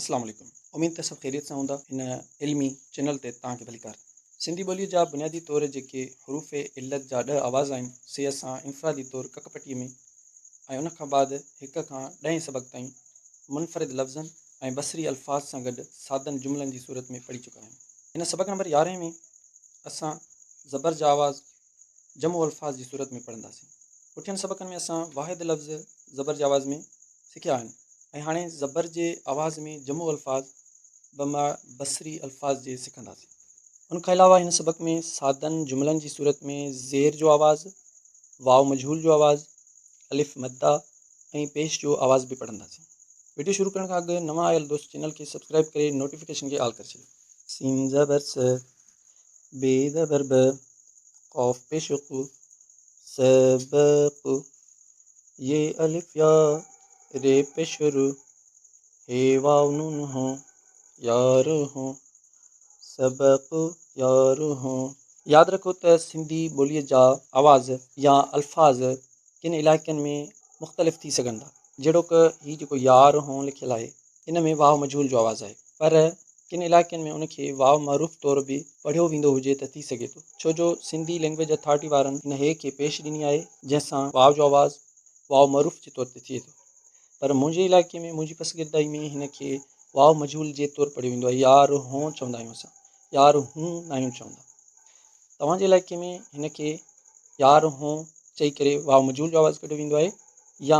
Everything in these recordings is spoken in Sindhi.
اسلام عليڪم اميد ته سڀ خيريت سان هوندا هن علمي چينل تي توهان کي ڀليڪار سنڌي ٻوليء جا بنيادي طور جيڪي حروف علت جا ڏهه آواز آهن سي اسان انفرادي طور ڪڪ پٽي ۾ ۽ ان کان بعد هڪ کان ڏهين سبق تائين منفرد لفظن ۽ بصري الفاظ سان گڏ سادن جملن جي صورت ۾ پڙهي چڪا آهيون هن سبق نمبر يارهين ۾ اسان زبر جا آواز جمع الفاظ جي صورت ۾ پڙهنداسين. پٺين سبقن ۾ اسان واحد لفظ زبر جي آواز ۾ سکيا آهن ۽ هاڻي زبر جي آواز ۾ جمع الفاظ بمع بصري الفاظ جي سکنداسين. ان کان علاوه هن سبق ۾ سادن جملن جي صورت ۾ زير جو آواز، واو مجهول جو آواز، الف مده ۽ پيش جو آواز به پڙهنداسين. وڊيو شروع ڪرڻ کان اڳ نوان آيل دوست چينل کي سبسڪرائيب ڪري نوٽيفڪيشن کي آل ڪري ڇڏيو. سين زبر س، بي ذا ضرب قاف پي شق سبق يي الف يا ري پي شر هي واو نون هو يار هو سبق يار هو ياد رکو ته سنڌي ٻوليء جا آواز يا الفاظ ڪن علائقن ۾ مختلف ٿي سگهن ٿا جهڙوڪ هي جيڪو يار هون لکيل آهي ان ۾ واو مجهول جو آواز آهي پر ڪن علائقن ۾ ان کي واو معروف طور به پڙهيو ويندو هجي ته ٿي سگهي ٿو ڇو جو سنڌي لئنگويج اٿارٽي وارن ان هي کي پيش ڏني آهي جنهن سان واو جو آواز واو معروف جي طور تي ٿئي ٿو پر منهنجي علائقي ۾ منهنجي پسگردائي ۾ هن کي واو مجهول جي طور پڙهيو ويندو آهي يار هون چوندا آهيون اسان يار هون ناهيون چوندا توهان جي علائقي ۾ هن کي يار هون چئي ڪري واو مجهول جو آواز ڪڍيو ويندو آهي يا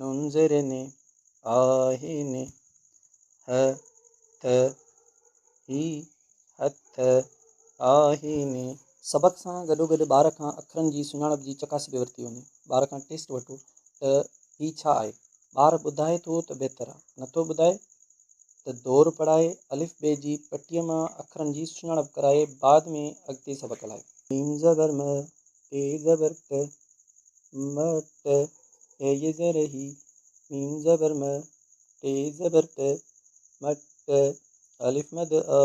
ننظر ۾ آهن هه ته هي هٿ آهن. سبق سان گڏوگڏ ٻار کان اکرن جي سڃاڻپ جي چڪاسي به ورتي وڃي. ٻار کان ٽيسٽ وٺو ته هي ڇا آهي؟ ٻار ٻڌائي ٿو ته بهتر آ، نٿو ٻڌائي ته دور پڙهائي الف بي جي پٽيء مان اکرن جي سڃاڻپ ڪرائي بعد ۾ اڳتي سبق هلائي. ميم زبر م، ٽي زبر ٽ، م ٽ، هي ي زير هي، ميم زبر م، ٽي زبر ٽ، م ٽ، الف مد آ،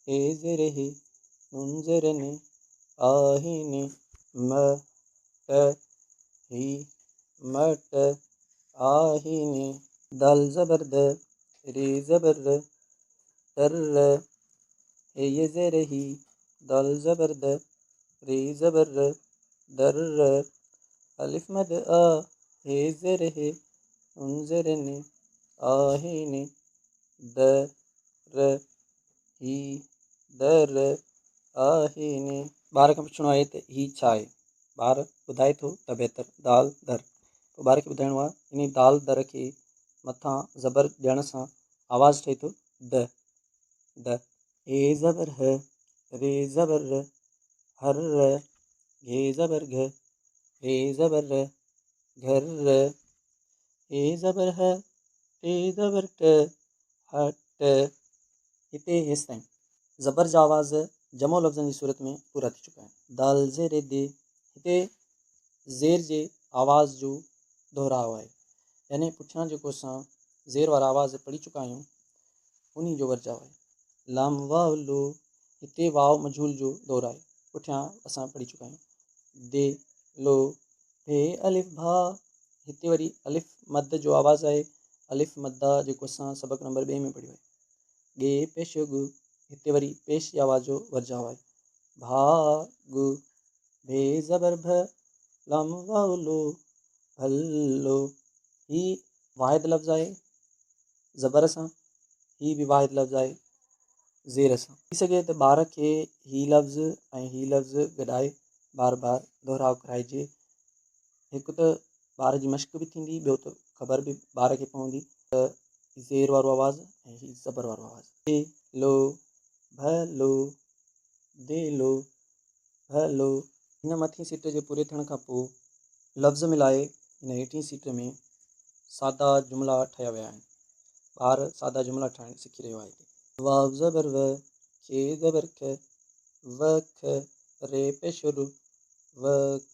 هي زير هي، نون زير ن، آ هي ن، م ٽ، هي، م ٽ، آ هي ن، دال زبر د، ري زبر ر، تر ر، هي ي زير هي، دال زبر د، ر زبر ر در ر الف مد آ ه زر ه انظر ن آهي ن د ر هي د ر آهي ن ٻار کان پڇڻو آهي ته هي ڇا آهي ٻار ٻڌائي ٿو ته بهتر دال در پوء ٻار کي ٻڌائڻو آهي انهي دال در کي مٿان زبر ڏيڻ سان آواز ٺهي ٿو د د ي زبر ه ر زبر ر هر ر گھ زبر گھ ر زبر ر گھر ر ٽ زبر ه ٽ زبر ٽ هٽ هتي هيستائين زبر جا آواز جمع لفظن جي صورت ۾ پورا ٿي چڪا آهن د ز ر د هتي زير جي آواز جو دهراء آهي يعني پٺيان جيڪو اسان زير وارا آواز پڙهي چڪا آهيون انهي جو ورجاء آهي. لام واء لو، هتي واء مجهول جو دور آهي. پٺيان اسان پڙهي چڪا آهيون. دي، لو، ڀي الف ڀا، هتي وري الف مد جو آواز آهي، الف مدا جيڪو اسان سبق نمبر ٻئي ۾ پڙهيو آهي. ڳي پيش ڳ، هتي وري پيش جي آواز جو ورجاء آهي. ڀا ڳ، ڀي زبر ڀ، لام واء لو، ڀل لو. هي واحد لفظ آهي. زبر سان، هي به واحد لفظ آهي، زير سان. ٿي سگهي ته ٻار کي هي لفظ ۽ هي لفظ گڏائي بار بار دهراء ڪرائجي. هڪ ته ٻار جي مشق به ٿيندي، ٻيو ته خبر به ٻار کي پوندي ته هي زير وارو آواز ۽ هي زبر وارو آواز. دي لو، ڀ لو، دي لو، هيلو هن مٿين سٽ جي پوري ٿيڻ کان پوء لفظ ملائي هن هيٺين سٽ ۾ سادا جملا ٺاهيا ويا آهن. ٻار سادا جملا ٺاهڻ سکي رهيو آهي هتي. واو زبر و، ک زبر ک، و کھ، ري پيش و رو، و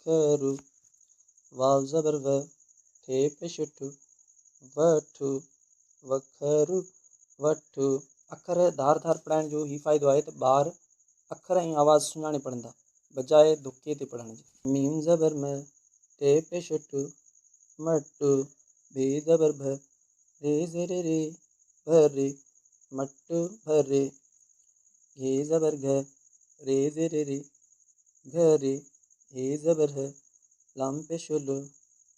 کھ رو. واو زبر و، ٺ پيش و ٺو، و ٺو، و کھ رو، وٺو. اکر ڌار ڌار پڙهائڻ جو هي فائدو آهي ته ٻار اکر ۽ آواز سڃاڻي پڙهندا، بجاء دڪي تي پڙهڻ جي. ميم زبر م، ٽ پيش ٽ، مٽ. ب زبر ڀ، ري زير ري، ڀر. مٽ ڀر. گھ زبر گھ، ري زير ري، گھر. ه زبر ه، لام پيش ل،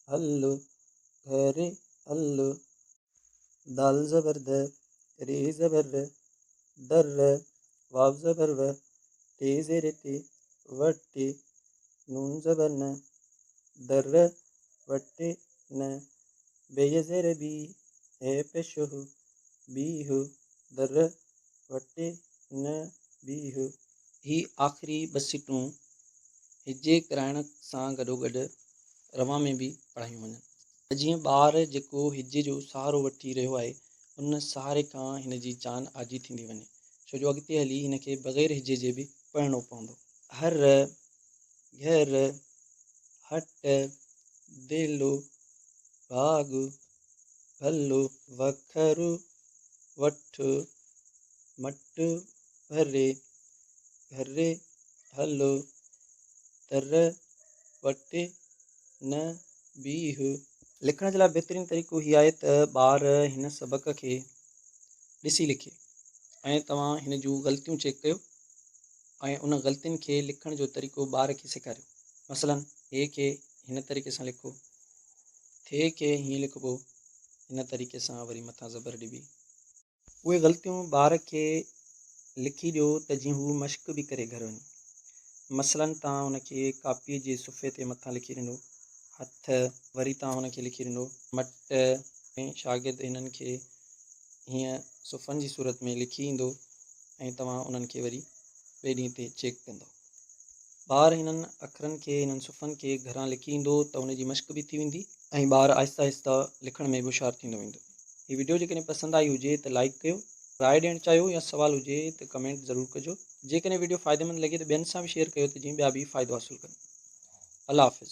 هل. گھر هل. ڌ، ذ زبر ڌ، ر زبر ر، در ر، واو زبر و، ٽ زير ٽي، و ٽ، ن زبر ن، د ر، و ٽ ن، ب زير بي، ه پيش ه، بي ه، د ر، و ٽ ن، بي ه. هي آخري ٻه سٽون هجي ڪرائڻ سان گڏوگڏ روان ۾ به پڙهايون وڃن. ته جيئن ٻار جيڪو هجي جو سهارو وٺي رهيو آهي ان سهاري کان هن جي جان آجي ٿيندي وڃي ڇو جو اڳتي هلي هن کي بغير هجي جي به پڙهڻو پوندو. هر، گهر، هٽ، ديلو، ڀاڳ، ڀلو. وکر، وٺ، مٽ، ڀري، گهري، هلو، تر، وٽي، نه بيهه. لکڻ جي لاء بهترين طريقو هي آهي ته ٻار هن سبق کي ڏسي لکي ۽ توهان هن جون غلطيون چيڪ ڪيو ۽ ان غلطين کي لکڻ جو طريقو ٻار کي سيکاريو مثلا هي کي هن طريقي سان لکو ٿي کي هيئن لکبو هن طريقي سان وري مٿان زبر ڏبي اهي غلطيون ٻار کي لکي ڏيو ته جيئن هو مشق به ڪري گهر وڃي. مثلاً توهان هن کي ڪاپيء جي صفحي تي مٿان لکي ڏنو هٿ وري توهان هن کي لکي ڏنو مٽ ۽ شاگرد انهن کي هيئن صفحن جي صورت ۾ لکي ايندو ۽ توهان انهن کي وري ٻئي ڏينهن تي چيڪ ڪندو. ٻار انهن اکرن کي، انهن صفحن کي گهران لکي ايندو ته ان جي مشق به ٿي ويندي. ۽ ٻار آهستي آهستي لکڻ ۾ به هوشيار ٿيندو ويندو. هي وڊيو جيڪڏهن پسند آئي هجي ته لائيڪ ڪيو. راء ڏيڻ چاهيو يا سوال هجي ته ڪمينٽ ضرور ڪجو. جيڪڏهن وڊيو فائديمند لڳي ته ٻين سان به شيئر ڪيو ته جيئن ٻيا به فائدو حاصل ڪن. الله حافظ.